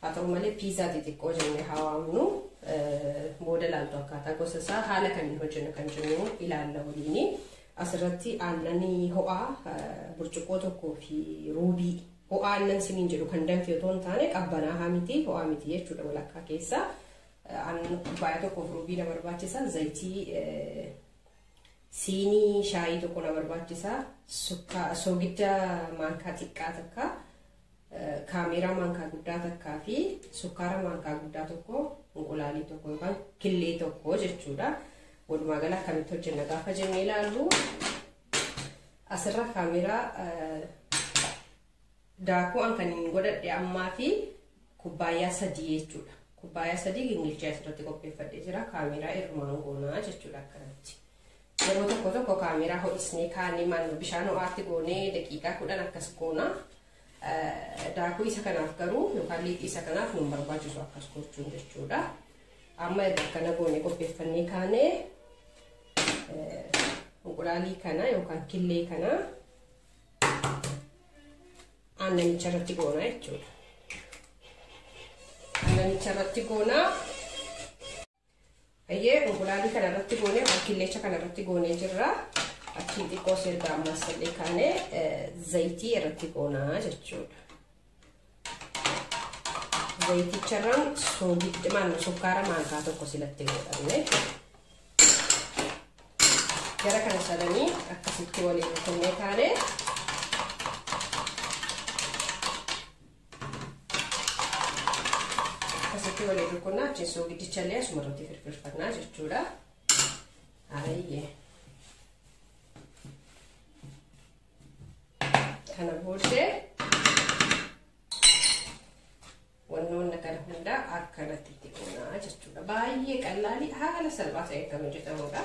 Haa ta'u malee piizaa xixiqqoo jennee haa waamnu booda ilaaltu akkaataa gosa isaa haala kamiin hojjennu kan jennu ilaalla waliini. Asirratti aannanii ho'aa burcuqqoo tokkoo fi ruubii ho'aa aannan siniin jedhu kan danfe otoo hin taane qabbanaa miti ho'aa miti jechuudha walakkaa keessa. Aannan kubbaayyaa tokkoof ruubii na barbaachisa zayitii siinii shaayii tokko na barbaachisa soogidda maankaa xiqqaa takka. kaameeraa maankaa guddaa takkaa fi sukkaara maankaa guddaa tokko inqulaalii tokko yookaan killee tokko jechuudha. Walumaa gala akkamitti hojjenna gaafa jennee ilaallu asirra kaameeraa daakuu an kan hin godhadhe ammaa fi kubbaayyaa sadii jechuudha. Kubbaayyaa sadii gingilchee asirratti qopheeffadhee jira kaameeraa irmaan goonaa jechuudha akkanatti. Yeroo tokko tokko kaameeraa ho'isnee kaanee maal bishaan ho'aatti goonee daqiiqaa kudhan akkas goonaa. Daakuu isa kanaaf garuu yookaan liixii isa kanaaf nu barbaachisu akkas gochuun jechuudha. Amma erga akkana goone qopheeffannee kaanee inqulaalii kana yookaan killee kana aannanicha irratti goonaa jechuudha. Aannanicha irratti goonaa Ayyee unqulaalii kana irratti goonee yookaan killeecha kana irratti goonee jirra. Achiin xiqqoo erga ammaas illee kaanee zayitii irratti goonaa jechuudha. Zayiticharraan soogiddimaan sukkaara maankaa tokko silatti godhanne. Gara kana sadanii akkasitti waliin kennee kaanee akkasitti waliin rukunnaa achiin soogidichallee asuma irratti firfirfannaa jechuudha. Ayyee. Kana booddee wannoonni kana hundaa akkanatti itti qonnaa jechuudha. Baay'ee qallaalii haala salphaa ta'een kan hojjetamudha.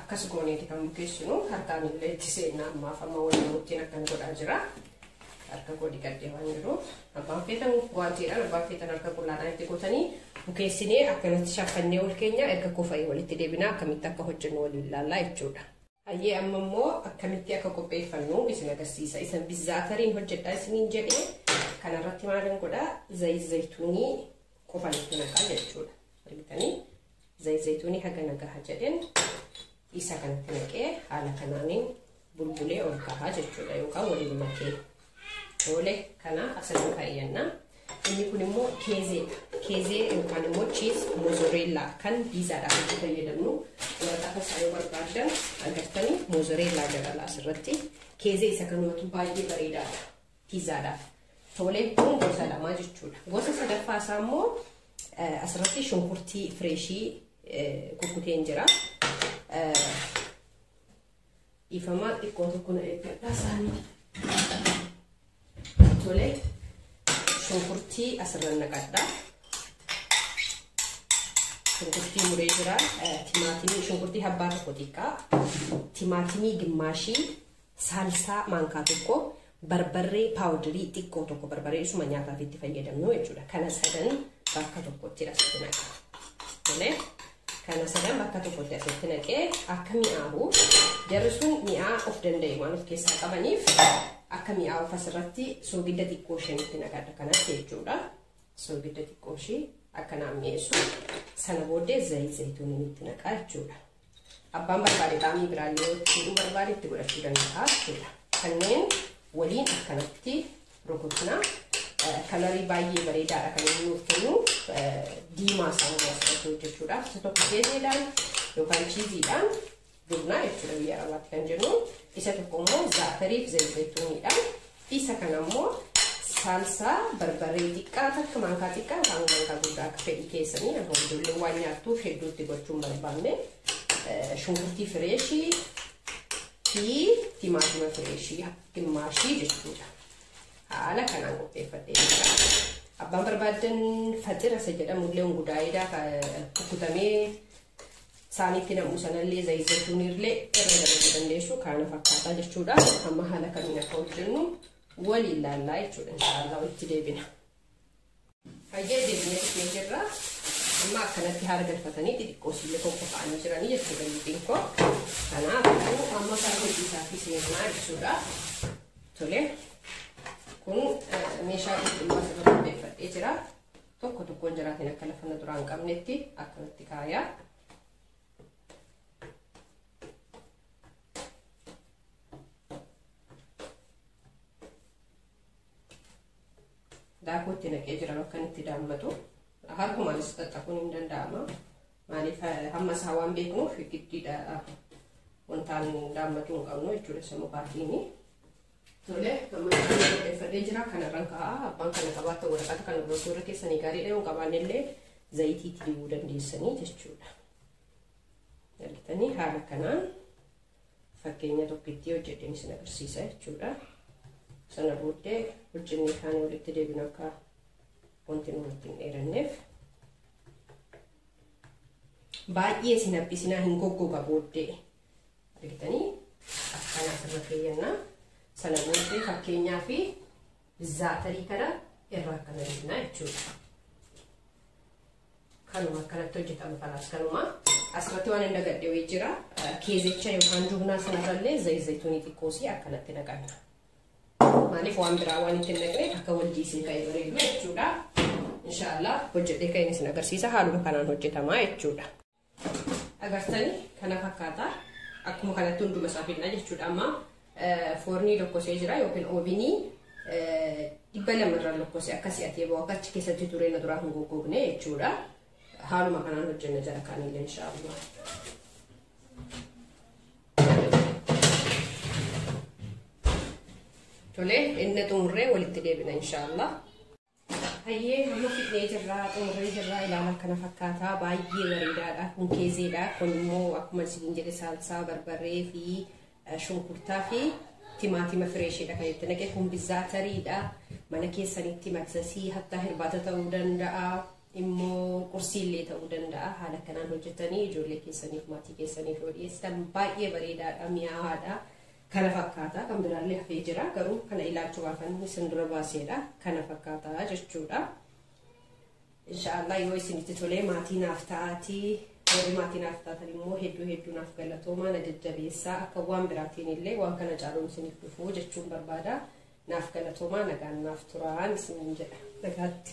akkas gooneeti kan bukeessinu harkaan illee itti seenna ammaaf amma wal namuttiin akkan godhaa jira harka koo dhiqadhee waan jiruuf abbaan feetan waantiidhaan abbaan feetan harka qullaadhaan itti gootanii bukeessinee akkanatti shaffannee ol keenya erga kofa'ee walitti deebinaa akkamitti akka hojjennu waliin ilaallaa jechuudha. Hayyee amma immoo akkamitti akka qopheeffannu isin agarsiisa isin bizaatariin hojjedhaa isiniin jedhee kanarratti maalan godhaa zayit zayituunii qofan itti naqaa jechuudha. Argitanii zayit zayituunii haga nagaha jedheen isaa kanatti naqee haala kanaaniin bulbulee ol kahaa jechuudha yookaan waliin makee oole kana asirra kaayyanna. Inni kun immoo keezeedha. Keezee yookaan immoo chiis mozoreellaa kan piizaadhaaf itti fayyadamnu waraqaa keessaa yoo barbaaddan agartanii mozoreellaa dabala asirratti. Keezee isa kan yookiin baay'ee bareedaadha. Piizaadhaaf toolee kun gosa lamaa jechuudha. Gosa sadaffaa isaa immoo asirratti shunkurtii fireeshii kukkuteen jira. Dhiifamaa xiqqoo tokko na eeggadhaa isaanii. Tolee shunkurtii asirra naqadha. Shunkurtii muree jira. Timaatimii shunkurtii habbaa tokko xiqqaa. Timaatimii gimmaashii Saalsaa maankaa tokko, barbarree paawudirii xiqqoo tokko barbaree isuma nyaataaf itti fayyadamnu jechuudha. Kana sadan bakka tokkotti asitti naqaa. Tolee. kana sadan bakka tokkotti asitti naqee akka mi'aawu jarri sun mi'aa of danda'e waan of keessaa qabaniif akka mi'aawu asirratti soogidda xiqqoo ishee nutti naqadha kanatti jechuudha. Soogidda xiqqoo ishee akka naaf mi'eessu sana booddee zayii zayituun nutti naqaa jechuudha. Abbaan barbaade xaamii biraallee yoo itti barbaade itti godhachuu danda'a jechuudha. Kanneen waliin akkanatti rukutna. Kalarii baay'ee bareedaadha kan inni nuuf kennu diimaa saamuu asirratti hojjechuudhaaf isa tokko keezeedhaan yookaan chiiziidhaan dibnaa jechuudha biyya arabaatti kan jennu isa tokko immoo zaatariif zayitooniidhaan Isa kana immoo saalsaa barbaree xiqqaa takka maankaa xiqqaa yookaan maankaa guddaa akka fedhii keessanii yookaan ijoolleen waan nyaattuuf hedduutti gochuun barbaanne shunkurtii fireeshii fi timaatima fireeshii gimmaashii jechuudha. Haala kanaan qopheeffadhee jira. Abbaan barbaadan faxira isa jedhamu illee gudaayidaa kukkutamee saaniitti nam'u sanallee zayit zaytuuniirlee irra dabaluu dandeessu kaana fakkaataa jechuudha amma haala kamiin akka hojjennu waliin laallaa jechuudha inshaallah walitti deebina. Hayyee deebinee dhufnee jirra amma akkanatti haala galfatanii xixiqqoo sillee qoqqofaanii jiranii jechuudha lixiin koo kanaafuu amma kan hojii isaatti seenaa jechuudha tole kun meeshaa qulqulluu asirra qopheeffadhee jira. tokko tokkoon jiraatiin akka lafa na duraa hin qabnetti akkanatti kaayaa. daakuu itti naqee jira bakka inni itti daammatu harkumaanis xaxxaquun hin danda'ama maaliif hamma isaa waan beeknuuf giddiidha wantaan daammatu hin qabnu jechuudha sammuu baatiini Tole, amma isaan qopheeffadhee jira. Kanarraan ka'a. Abbaan kana qabaatta waraqata kana gochuu irra keessanii gaariidha. Yoo qabaanne illee zayitii itti dibuu dandeessanii jechuudha. Argitanii haala kanaan fakkeenya tokkittii hojjedheen isin agarsiisa jechuudha. Sana booddee hojjennee kaanii walitti deebinu akka wanti nurratti hin dheeranneef. Baay'ee isin haphisinaa hin goggoga booddee. argitanii akkana asirra keeyyanna sana booddee fakkeenyaa fi zaatarii kana irraa akkana deemna jechuudha. Kanuma akkanatti hojjetama kanaas kanuma asirratti waan hin dagadhe wayii jira keezicha yookaan jubnaa sanarrallee zayit zayituunii xiqqoosii akkanatti naqanna. Maaliif waan biraa waan itti naqne akka wal jiisee ka'e bareedu jechuudha. Inshaallah hojjetee ka'een isin agarsiisa haaluma kanaan hojjetama jechuudha. Agartani kana fakkaata. Akkuma kanatti hunduma isaa fidna jechuudha amma foornii lokkosee jira yookiin oobinii dhibba lama irra lokkose akka si'atee ba'u akka achi keessatti turee na duraa hin goggogne jechuudha. Haaluma kanaan hojjenna jara kaanillee inshaallah. Tole inni xumurree walitti deebina inshaallah. Hayyee amma fidnee jirraa xumurree jirraa ilaala kana fakkaataa baay'ee bareedaadha kun keezeedha kun immoo akkuma isin jedhe saalsaa barbarree fi shunkurtaa fi timaatima fireeshiidha kan itti naqe kun bizaatariidha mana keessanitti maksasii hattaa hirbaata ta'uu danda'a immoo qursiillee ta'uu danda'a haala kanaan hojjetanii ijoollee keessaniif maatii keessaniif yoo dhiyeessitan baay'ee bareedaadha mi'aawaadha kana fakkaata kan biraallee hafee jira garuu kana ilaalchumaafan isin dura baaseedha kana fakkaata jechuudha inshaallah yoo isinitti tolee maatii naaf ta'aatii warri maatii naaf taatan immoo hedduu hedduu naaf galatoomaa na jajjabeessaa akka waan biraatiin illee waan kana caaluun isiniif dhufuu jechuun barbaada naaf galatoomaa nagaan naaf turaan isinin jedha nagaatti